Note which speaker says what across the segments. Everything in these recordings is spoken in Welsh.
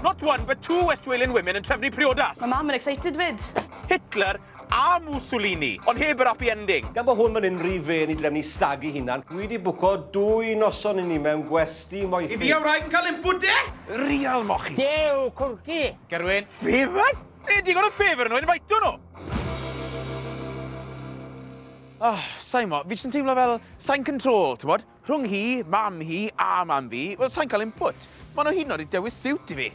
Speaker 1: Not one but two West Walian women yn trefnu priodas! Mae mam yn excited 'fyd!
Speaker 2: Hitler
Speaker 1: a Mussolini, ond heb yr happy ending! Gan bod hwn fan hyn rhy
Speaker 3: fên i drefnu stag i hunan, dwi 'di bwco dwy noson i ni mewn gwesty moethus. Yf fi a wraig yn cael input
Speaker 1: de? Real mochi! Dew, cwrci!
Speaker 4: Gerwyn,
Speaker 1: favours? Nid digon o favour nhw, invitio nhw! Oh, sai'n mo, fi jyst yn teimlo fel sai'n control, t'mod? Rhwng hi, mam hi a mam fi, wel sai'n cael input. Maen nhw hyd yn oed wedi dewis siwt i fi.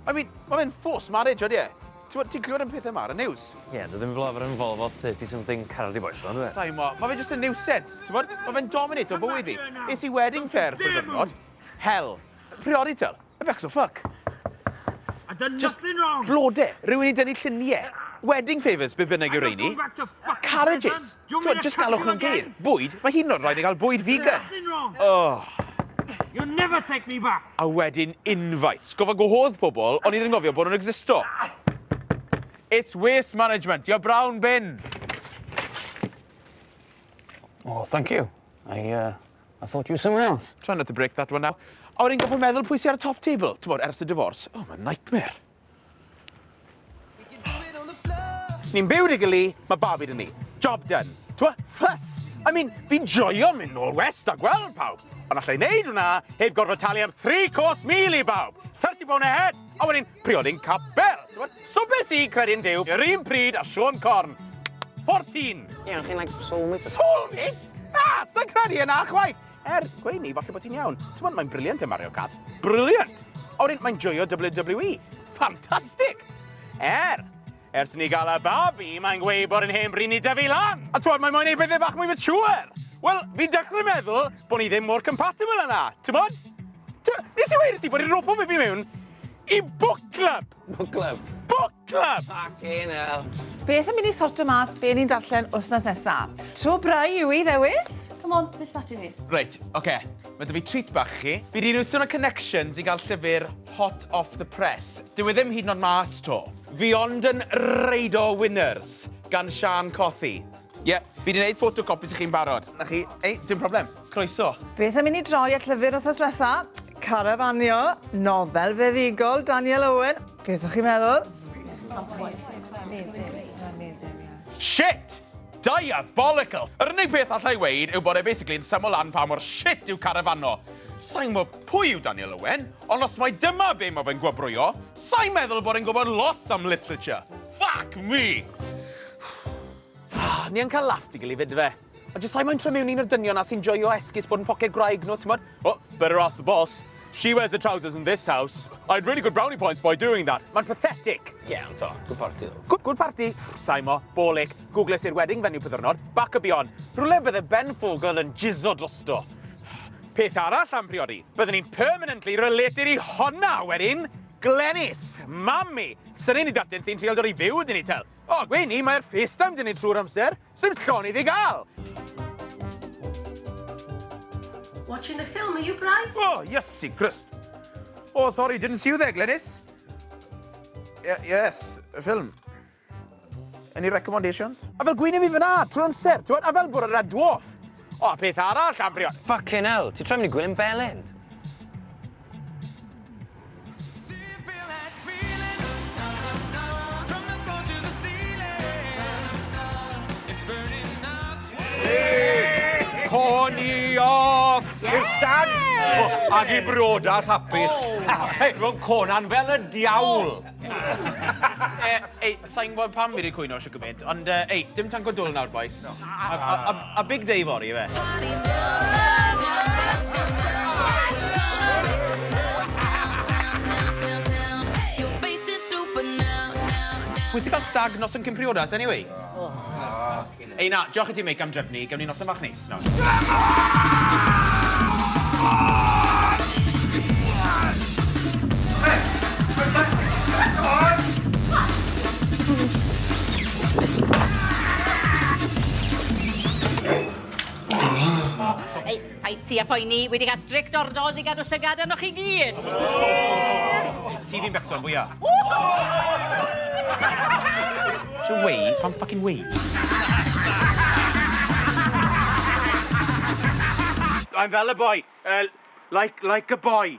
Speaker 1: I mean, mae fe'n forced marriage, odi e? Ti'n gwybod, ti'n clywed am pethau yma ar y news? Ie, yeah, dwi ddim fel arfer
Speaker 5: involved fel 30 something cardi boys, dwi'n dwi? Sa'i mo, mae fe just a
Speaker 1: nuisance, ti'n gwybod? Mae fe'n dominate o bywyd fi. Es i wedding fair for ddiwrnod. Hell. Priorital. It looks a fuck. I've
Speaker 4: done Just nothing wrong. Blode. Rwy'n ei dynnu
Speaker 1: lluniau. Wedding favours, be bynnag yw'r rheini. Carriages. Twa, just galwch nhw'n geir. Bwyd? Mae hi'n o'r rhaid i gael bwyd vegan. Oh. You'll
Speaker 4: never take me back. A wedyn
Speaker 1: invites. Goffa gwahodd pobl, ond i ddim gofio bod nhw'n existo. It's waste management. Your brown bin.
Speaker 5: Oh, thank you. I, uh, I thought you were someone else. Try not to break that one now.
Speaker 1: A wedyn gorfod meddwl pwy sy ar y top table, ti'n bod, ers y divorce. Oh, mae'n nightmare. Ni'n byw dy gili, mae babi dyn ni. Job done. Twa, ffys! I mean, fi'n joio mynd nôl west a gweld pawb. Ond allai wneud hwnna heb gorfod talu am 3 cos mil i bawb. 30 pound a head! A wedyn, priodyn capel! T'mod? So be' sy credin Duw yr un pryd a Siôn Corn? Fourteen! Ie, ond chi'n like
Speaker 5: soulmates? Soulmates? Na!
Speaker 1: Sa'n credu yna chwaith! Er, gweud ni, falle bod ti'n iawn. T'mod, mae'n briliant yn Mario Kart. Briliant! A wedyn, mae'n joio WWE. Ffantastig! Er, Ers ni gael y babi, mae'n gweud bod yn hen bryd ni dyfu lan! A twod, mae moyn ei bethau bach mwy mature! Wel, fi'n dechrau meddwl bod ni ddim mor compatible yna, t'mod? Nes i weud i ti bod i'n ropo fi fi mewn i book club! Book club?
Speaker 5: Book club!
Speaker 1: Fucking hell.
Speaker 5: Beth yn mynd i sortio
Speaker 6: mas be ni'n darllen wythnos nesa? Tro brau yw i ddewis? Come on, beth sati
Speaker 2: ni? Reit, oce. Okay.
Speaker 1: Mae dy fi treat bach chi. Fi rydyn nhw'n sôn o connections i gael llyfr hot off the press. Dyw e ddim hyd yn oed mas to. Fi ond yn reido winners gan Siân Cothi. Ie, fi 'di neud ffotocopis i chi'n barod. 'Na chi. Ei, dim problem. Croeso. Beth am i ni droi
Speaker 6: at llyfr wthnos dwetha? Carafanio, nofel feddugol Daniel Owen. Beth o'ch chi'n meddwl?
Speaker 1: Shit! Diabolical! Yr unig peth allai weud yw bod e basically yn syml lan pa mor shit yw Carafanno. Sai'n gwbo pwy yw Daniel Owen, Ond os mai dyma be mae fe'n gwobrwyo, sa i'n meddwl bod e'n gwybod lot am literature. Fuck me! Ni yn cael laff tu gul i fydfe. A jyst sa i moyn trio mewn i un o'r dynion 'na sy'n joio esgus bod yn poced gwraig nhw, timod? Oh, better ask the boss. She wears the trousers in this house. I had really good brownie points by doing that. Mae'n pathetic. Ie, yeah, ond to, good
Speaker 5: party ddo. Good, good party?
Speaker 1: Saimo, bolic, googles i'r wedding venue pyddiwrnod, back a beyond. Rhywle bydde Ben Fogle yn jizo drosto. Peth arall am briodi, byddwn i'n permanently related i honna wedyn! Glenys, mam i, syni'n i datin sy'n trial dod i fyw dyn ni tel. O, gwe ni, mae'r FaceTime dyn ni trwy'r amser, sy'n llon iddi gael!
Speaker 2: Watching the film, are you Bry? O, oh, Iesu Grist!
Speaker 1: O, oh, sorry, didn't see you there, Glenys. Y yes, y ffilm. Any recommendations? A fel gwyn i fi fyna, trwy'r amser, ti'n a fel bod y red dwarf. O, peth arall, Ambrion. Fucking hell, ti'n troi mynd
Speaker 5: i gwylio'n belend.
Speaker 1: Connie off! I'r stag! Oh, ag i briodas hapus. Oh. Hei, ro'n Conan fel y diawl. Oh. e, ei, sa'n gwybod pam fi wedi cwyno eisiau gymaint, ond e, ei, dim tank o dwl nawr, boys. No. A, a, a, a big day fori, efe. Pwy sy'n cael stag nos yn Cympriodas, anyway? Oh. Ei na, diolch i ti Mick am drefnu, gewn ni noson fach neis nawr.
Speaker 7: Paid â phoeni, wi 'di cael strict orders i gadw llygad arnoch chi gyd!
Speaker 1: Ti fi'n becso'n fwya. So wei, pam ffycin wei? I'm fel y boi. Yy like like a boy.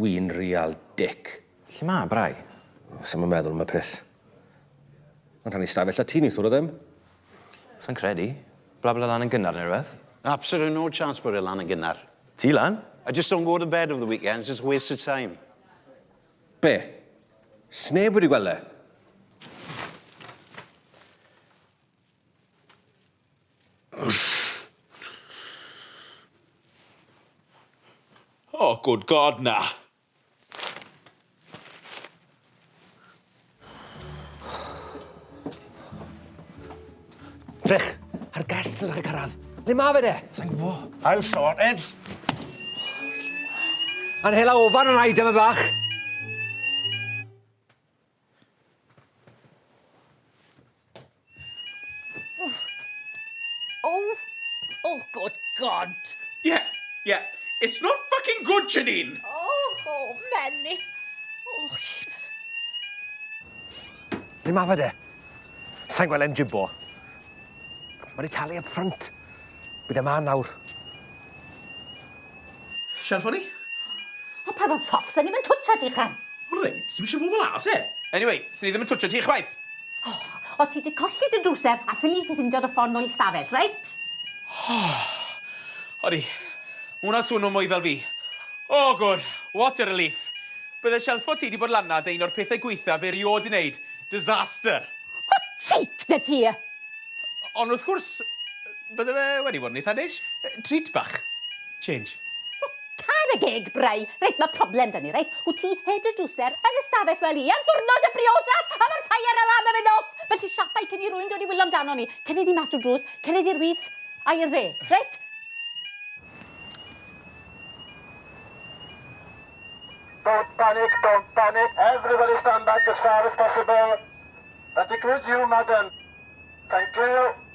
Speaker 3: Wi'n real dick. Lle ma Bry?
Speaker 5: Sai'm yn meddwl
Speaker 3: am y peth. Mae'n rhannu stafell â ti neithiwr o ddim. Sai'n
Speaker 5: credu. Blabla lan yn gynnar neu rhywbeth. Absolute no chance
Speaker 8: bod e lan yn gynnar. Ti lan? I
Speaker 5: just don't go to bed
Speaker 8: over the weekends, it's a waste of time. Be?
Speaker 3: Sneb wedi gweld e?
Speaker 1: Oh, good God, na!
Speaker 3: Trech, a'r guests yn ddechrau cyrraedd. Le ma fe de? Sa'n gwbo. I'll
Speaker 5: sort it.
Speaker 3: A'n hela ofan yn aida fe bach.
Speaker 7: Oh! Oh, good God! Yeah,
Speaker 1: yeah. It's not fucking good, Janine! Oh, oh,
Speaker 7: Menni. Oh, shit.
Speaker 3: Ni ma fe de. Sa'n gweld e'n jimbo. Mae'n ei talu up front. Bydd e ma nawr.
Speaker 1: Shall ffoni? O
Speaker 7: pan o'n ffos, da ni'm yn twtio ti, Clem! O reit, ti misio move
Speaker 1: las, e? Anyway, swn i ddim yn twtio ti chwaith! O, o ti
Speaker 7: di colli dy drwser a ffili ti ffindio dy ffon nôl i stafell, reit?
Speaker 1: O, odi, hwnna swnw mwy fel fi. O, gwr, what a relief! Bydde shelffo ti di bod lanna dy un o'r pethau gweitha fe riod di neud, disaster! O,
Speaker 7: cheek da ti! Ond
Speaker 1: wrth gwrs, Bydde fe wedi bod yn eitha neis. Treat bach. Change. Just
Speaker 7: can a gig, Bry! Reit, ma problem da ni, reit? Wt ti heb dy drwser yn y stafell fel i ar ddwrnod y briodas a ma'r fire alarm yn mynd off! Felly siapai cyn i rwyn dod i wilo amdano ni. Cerddi di mas drw'r drws, cerddi i'r with, a i'r dde, reit? Don't panic, don't panic. Everybody stand back as far as
Speaker 9: possible. That includes you, madam. Thank you.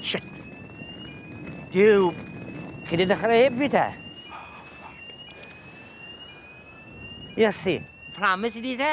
Speaker 4: Shit! Duw! Chi di dechrau heb fi te? Iesu! Promise i di te?